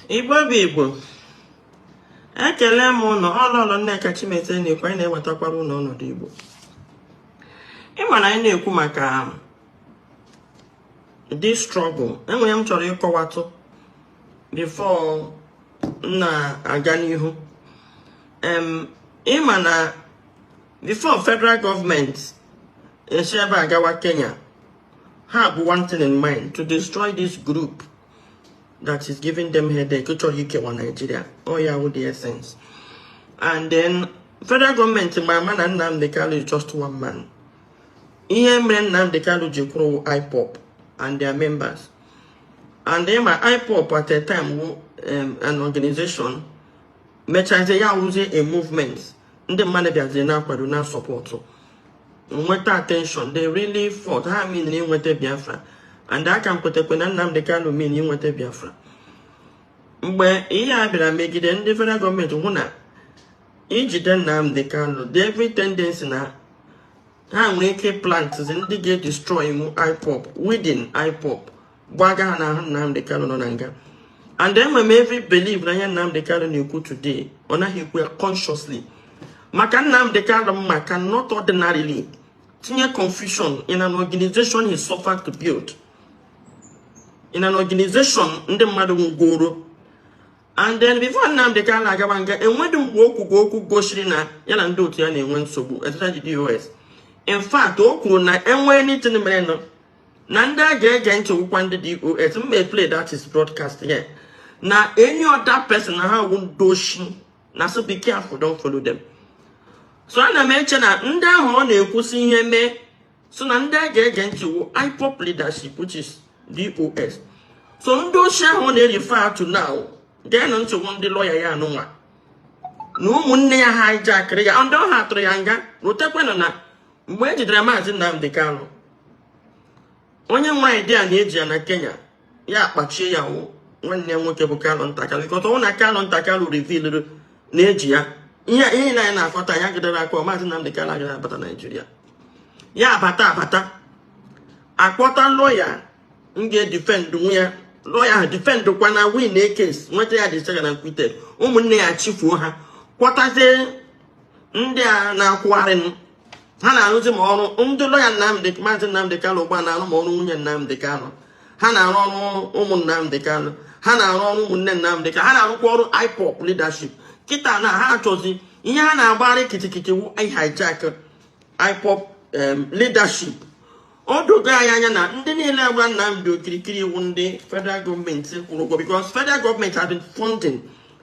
igbo bụ igbo ekele m ụnụ ọ lọlọ nneka chimezie na-ekwu anyị na-ewetakwara ụnụ ọnọdụ igbo ịma na anyị na-ekwu maka this struggle enwere ihe m chọrọ ịkọwatụ before m na-aga n'ihu ịma na before federal gọọmenti esi ebe a gawa kenya ha bu one thing in mind to destroy this group that is giving them headache chọrọ ikewa Nigeria ọ ya wụ the essence and then federal gọọmenti ma ama na Nnamdi Kanu is just one man ihe mere Nnamdi Kanu ji kwụrụ IPOB and their members and then ma IPOB at a time wụ um, an organization mechazie ya wụzie a movement ndị mmadụ bịaziri na-akwado na-asupportụ nweta attention they really fought ha mean na inweta Biafra and aka m kwetekwe na Nnamdi Kanu mean inweta Biafra mgbe ihe a bịara megide ndị federal gọọmenti hụ na ijide Nnamdi Kanu dị every tendency na ha nwere ike plant ndị ga-edestroy IPOB within IPOB gbaga ha n'ahụ Nnamdi Kanu nọ na nga and enwe m every believe na ihe Nnamdi Kanu na-ekwu today ọ naghị ekwu ya consciously maka Nnamdi Kanu m ma cannot ordinarily tinye confusion in an organization he suffered to build in an organization ndị mmadụ nwụọrọ and then before Nnamdi Kanu na-agaba nga enwedị mgbe okwu ka okwu gosiri na ya na ndị otu ya na-enwe nsogbu especially the DOS in fact o kwuru na enwe anything merenụ na ndị a ga-ege ntị wụkwa ndị DOS m may play that his broadcast here na any other person na ha wụ ndị oshi na so be careful don't follow them so ana m eche na ndị ahụ ọ na-ekwu sị ihe mee so na ndị a ga-ege ntị wụ IPOB leadership which is DOS so ndị oshi ahụ ọ na-erefer to now geenụ ntị wụ ndị lọya ya anụnwa na ụmụnne ya ha hijackịrị ya ndị ọ ha tụrụ ya nga rotekwenụ na mgbe e jidere maazị Nnamdi Kanu onye nwe an idea na eji ya na Kenya ya akpachie ya wụ nwanne ya nwoke bụ Kanunta Kanu because ọ wụ na Kanunta Kanu revealịrị na eji ya ihe ihe na anyị na-akọ taa ya gidere akọ maazị Nnamdi Kanu agaghị abata Naijiria ya abata abata akpọta lọya ga-edefendụ ya lọya ahụ defendụkwa na win a case nweta ya discharge and acquitted ụmụnne ya chifuo ha kpọtazie ndị a na-akwụgharị m ha na-arụzi ma ọrụ ndị lọya Nnamdị maazị Nnamdị Kanụ ugbu a na-arụ ma ọrụ nwunye Nnamdị Kanụ ha na-arụ ọrụ ụmụ Nnamdị Kanụ ha na-arụ ọrụ ụmụnne Nnamdị Kanụ ha na-arụkwa ọrụ IPOB leadership kịta na ha achọzi ihe ha na-agbara kịtịkịtị wu hijack IPOB leadership o dogo anyị anya na ndị niile a gba Nnamdi okirikiri wu ndị federal gọọmenti kwụrụ ụgwọ because federal gọọmenti has been funding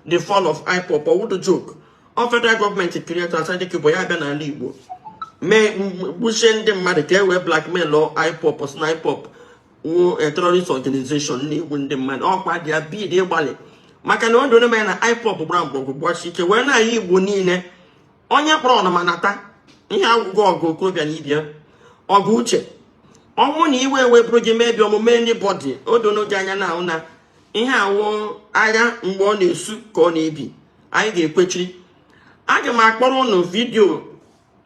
the fall of IPOB ọ wụdụ joke ọ federal gọọmenti create Asari Dokubo ya abịa n'ala Igbo mee gbuchie ndị mmadụ ka e wee blackmail IPOB sị na IPOB wu a terrorist organization na-egbu ndị mmadụ ọkwa dị ya bid ịgbalị maka na ọ dị onye na IPOB gbara mgbọgwụ gbachi ike wee n'ala Igbo niile onye kpọrọ ọnụma nata ihe agwụgwọ ọgụ okorobịa na ibia ọgụ uche ọ wụ na iwe ewe bụrụ gị mebi omume anybody o dono gị anya na ahụ na ihe a wụ agha mgbe ọ na-esu ka ọ na-ebi anyị ga-ekwechiri aga m akpọrọ ụnụ vidiyo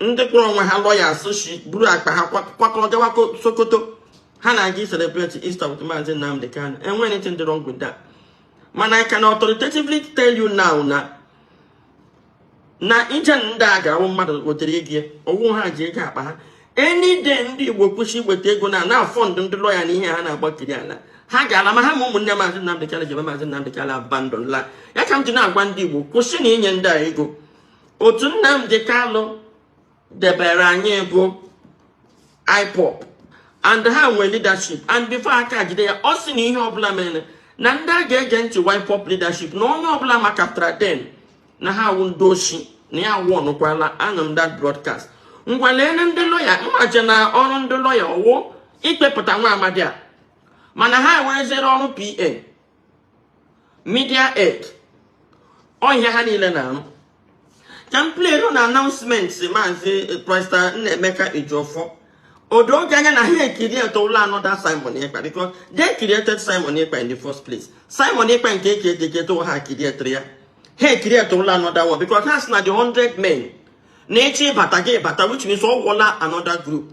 ndị kpọrọ onwe ha lọyas shi buru akpa ha kwakọrọ gawa Sokoto ha na-aga celebrate Easter with Maazị Nnamdi Kanu enwe anything dị wrong with that mana I can authoritatively tell you now na na ije ndị a ga ọ wụ mmadụ wetere ego ya ọ wụ ha ji ego akpa ha any day ndị igbo kwụsị iweta ego na-afọndụ ndị lọya na ihe ha na-agbakiri ala ha ga-ala ma ha ma ụmụnne maazị Nnamdi Kanu jebe maazị Nnamdi Kanu abandon la ya ka m ji na-agwa ndị igbo kwụsị na inye ndị a ego otu Nnamdi Kanu debere anyị bụ IPOB and ha nwee leadership and before aka jide ya ọ sị na ihe ọbụla mere na ndị a ga-ege ntị IPOB leadership na onye ọbụla makapụtara then na ha awụ ndị oshi na ya awụ ọnụkwala anụ m that broadcast ngwa leele ndị lọya mmaje na ọrụ ndị lọya ọwụ ikpepụta nwa amadi a mana ha ewereziere ọrụ PA media aide ọ ihe a ha niile na-arụ ka m pleere ụnụ announcement maazị Barrister Nnaemeka Ejiofor o dogo anya na ha ecreate-ụla another Simon Ekpa because they created Simon Ekpa in the first place Simon Ekpa nke eke ekeketo ha createre ya ha ecreate-ụla another one because ha sị na the 100 men na-eche ịbata ga-abata which means ọ wụla another group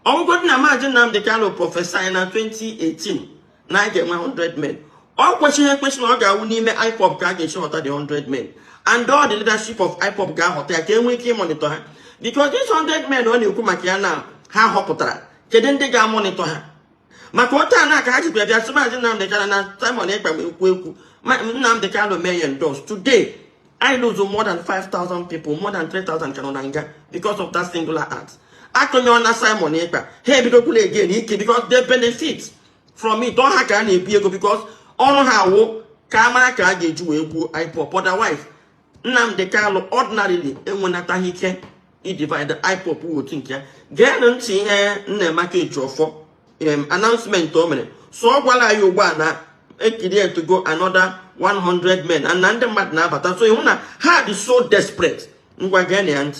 ọ wụgodị na maazị Nnamdị Kanu prophesy na 2018 na anyị ga-enwe 100 men ọ kwesịghị ekwesị na ọ ga-awụ n'ime IPOB ka a ga-esi họta the 100 men and all the leadership of IPOB ga-ahọta ya ka e nwee ike ịmonitọ ha because these 100 men ọ na-ekwu maka ya na ha họpụtara kedu ndị ga-amonitọ ha maka otu a na-aka ha jikwa bịa sị maazị Nnamdị Kanu na Simon Ekpa ma ekwu ekwu Nnamdị Kanu mee ya endorse today anyị lose more than 5,000 people more than 3,000 ka nọ na nga because of that singular act a kụnyụọna Simon Ekpa ha ebidokwala again ike because they benefit from it ọ ha ka a na-ebu ego because ọrụ ha wụ ka a mara ka a ga-eji wee gbuo IPOB otherwise Nnamdi Kanu ordinarily enwenataghị ike idivide IPOB wụ otu nke ya geenụ ntị ihe Nnaemeka Ejiofor announcement o mere so ọ gwara anyị ugbu a na ekirietugo another 100 men and na ndị mmadụ na-abata so ị hụ na ha dị so desperate ngwa geenụ ya ntị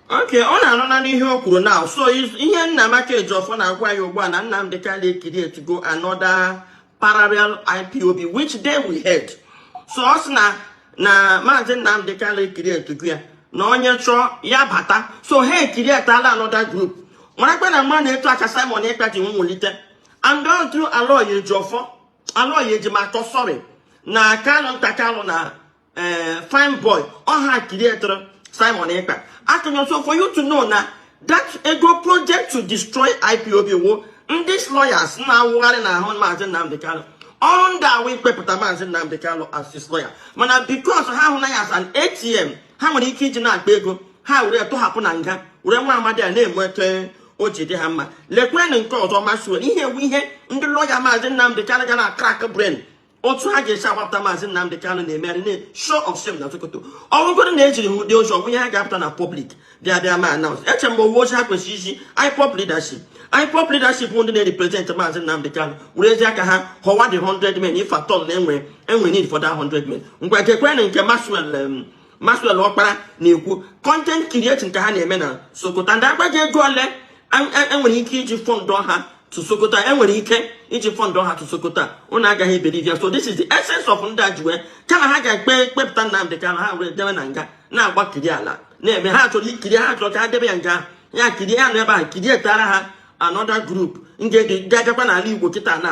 okay ụnụ anụna ihe o kwuru now so ihe Nnaemeka Ejiofor na-agwa anyị ugbu a na Nnamdi Kanu ekirietugo another parallel IPOB which they will head so ọ sị na na maazị Nnamdi Kanu ekirietugo ya na onye chọọ ya bata so ha ekirietala another group marakwa na mma na etu a ka Simon Ekpa ji nwulite and all through Aloy Ejiofor Aloy Ejimakor sorry na Kanunta Kanu na eh, fine boy ọ ha kirietụrụ simon ekpa akụnyọ so for you to know na that ego project to destroy ipob wụ ndị lawyers na-awụgharị n'ahụ maazị nnamdị kanụ ọrụ ndị a wụ ikpepụta maazị nnamdị kanụ as his lawyer mana because ha hụ na ya as an atm ha nwere ike iji na-akpa ego ha were tụhapụ na nga were nwa amadi a na-enweta o ji dị ha mma lekwenụ nke ọzọ maxwell ihe a wụ ihe ndị lọya maazị nnamdị kanụ ga na crack brain otu ha ga-esi agbapụta maazị Nnamdị Kanụ na-emegharị na show of shame na Sokoto ọ wụgodu na eziri ha ụdị ozi ọ wụ ihe ha ga-apụta na pọblik bịa bịa ma anaụns eche mgbe ọ wụ ozi ha kwesịrị izi IPOB leadership IPOB leadership ndị na-represent maazị Nnamdị Kanụ werezie aka ha họwa the 100 men if at all na enwe enwe need for that 100 men ngwa gekwenụ nke Maxwell Maxwell Okpara na-ekwu content creation ka ha na-eme na Sokoto ndị agbaji ego ole enwere e, e ike iji fọndụ ha to Sokoto enwere ike iji fọndụ ha to Sokoto ụnụ agaghị ebelieve ya so this is the essence of ndị a ji wee kama ha ga-ekpe kpepụta Nnamdị Kanu ha were debe na nga na-agbakiri ala na-eme ha chọrọ ikiri ha chọrọ ka ha debe ya nga ya kirie ya nọ ebe a kirietara ha another group nke dị agakwa n'ala Igbo kịta na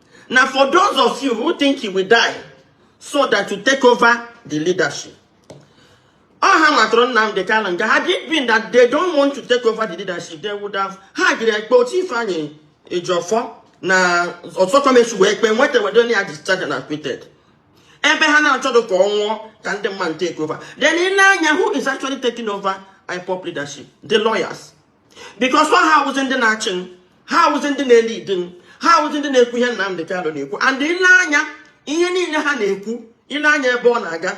Now, for those of you who think he will die so that to take over the leadership, ọ ha matọrọ Nnamdi Kanu nga, had it been that they don't want to take over the leadership, they would have ha gaara ekpe otu Ifeanyi Ejiofor na Ozekhome si wee kpee nweta wedo ya discharged and acquitted ebe ha na-achọdụ ka ọ nwụọ ka ndị mmadụ take over then i nee anya who is actually taking over IPOB leadership the lawyers because ọ ha awụzi ndị na-achịnụ ha awụzi ndị na-elidinụ ha awụzi ndị na-ekwu ihe Nnamdi Kanu na-ekwu and i lee anya ihe niile ha na-ekwu i lee anya ebe ọ na-aga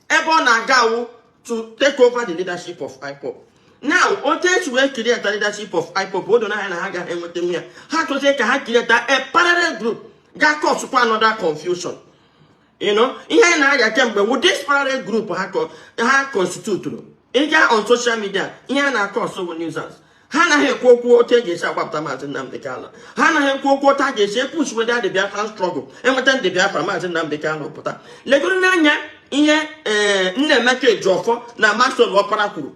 ebe ọ na-aga wụ to take over the leadership of IPOB now otu esi wee kirieta leadership of IPOB o dona anya na ha agaghị enwetanwu ya ha chọzie ka ha kirieta a parallel group ga-acause kwa another confusion you know ihe anyị na-arịa kemgbe wụ disparate group ha constitutụrụ ịga on social media ihe ha na-acause wụ nuisance ha anaghị ekwu okwu otu e ga-esi agbapụta maazị Nnamdị Kanụ ha anaghị ekwu okwu otu a ga-esi epush weda ndị Biafra struggle enweta ndị Biafra maazị Nnamdị Kanụ pụta legodunụ anya ihe ee Nnaemeka Ejiofor na Maxwell Opara kwuru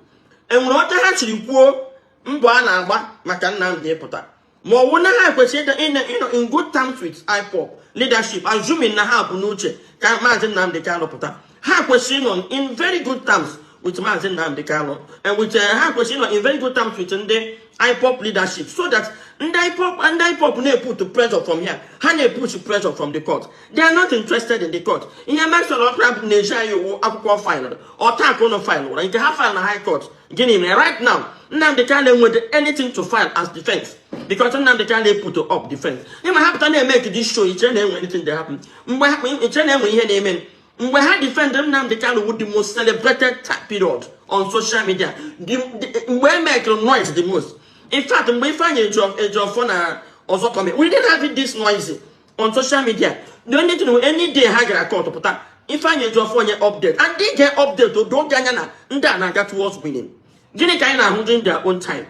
enwere oge ha jiri kwuo mbọ a na-agba maka Nnamdị ịpụta ma ọ bụ na ha kwesịrị ịnọ in good terms with IPOB leadership assuming na ha bu n'uche ka maazị Nnamdị Kanụ pụta ha kwesịrị ịnọ in very good terms with maazị Nnamdị Kanụ and with eh, ha kwesịrị ịnọ in very good terms with ndị IPOB leadership so that ndị IPOB ndị IPOB na-eput pressure from here ha na-epush pressure from the court they are not interested in the court ihe Maxwell Opara na-ezi anyị wụ akwụkwọ faịlụ ọta akwụkwọ faịlụ ụra nke ha faịlụ na high court gịnị mere right now Nnamdi Kanu enweghị anything to file as defense because Nnamdi Kanu put up defense ịma ha pụta na-emake this show ichere na enwe anything dey happen mgbe ha ichere na enwe ihe na-eme mgbe ha defend Nnamdi Kanu wụ the most celebrated period on social media mgbe e makere noise the most in fact mgbe Ifeanyi Ejiofor na Ozekhome we didn't have it this noisy on social media the only thing any day ha gara court pụta Ifeanyi Ejiofor o nye update and they get update o doo gị anya na ndị a na-aga towards winning gịnị ka anyị na-ahụ during their own time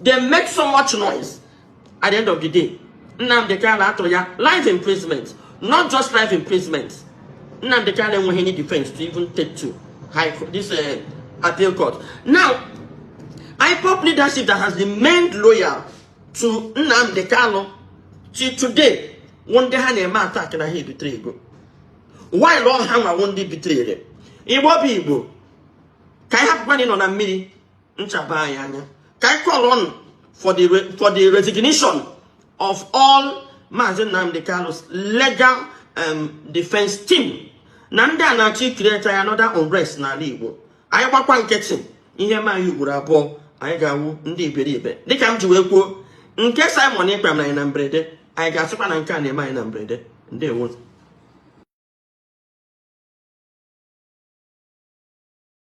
they make so much noise at the end of the day Nnamdi Kanu a tụrụ ya life imprisonment not just life imprisonment Nnamdi Kanu enweghị any defense to even take to high court, this uh, appeal court now IPOB leadership that has remained loyal to Nnamdi Kanu till today wụ ndị ha na-eme attack na ha ebetraygo while ọ hanwa wụ ndị betrayre Igbo bụ Igbo ka anyị hapụkwanụ ịnọ na mmiri ncha abaa anyị anya ka anyị call on for the for the resignation of all Maazị Nnamdi Kanu's legal um, defense team na ndị a na-achọ icreate another unrest n'ala Igbo anyị gbakwa nkịtị ihe mee anyị ugboro abụọ anyị ga-awụ ndị iberibe dịka m ji wee kwuo nke Simon Ekpa mere anyị na mberede anyị ga-asịkwa na nke a na-eme anyị na mberede ndewo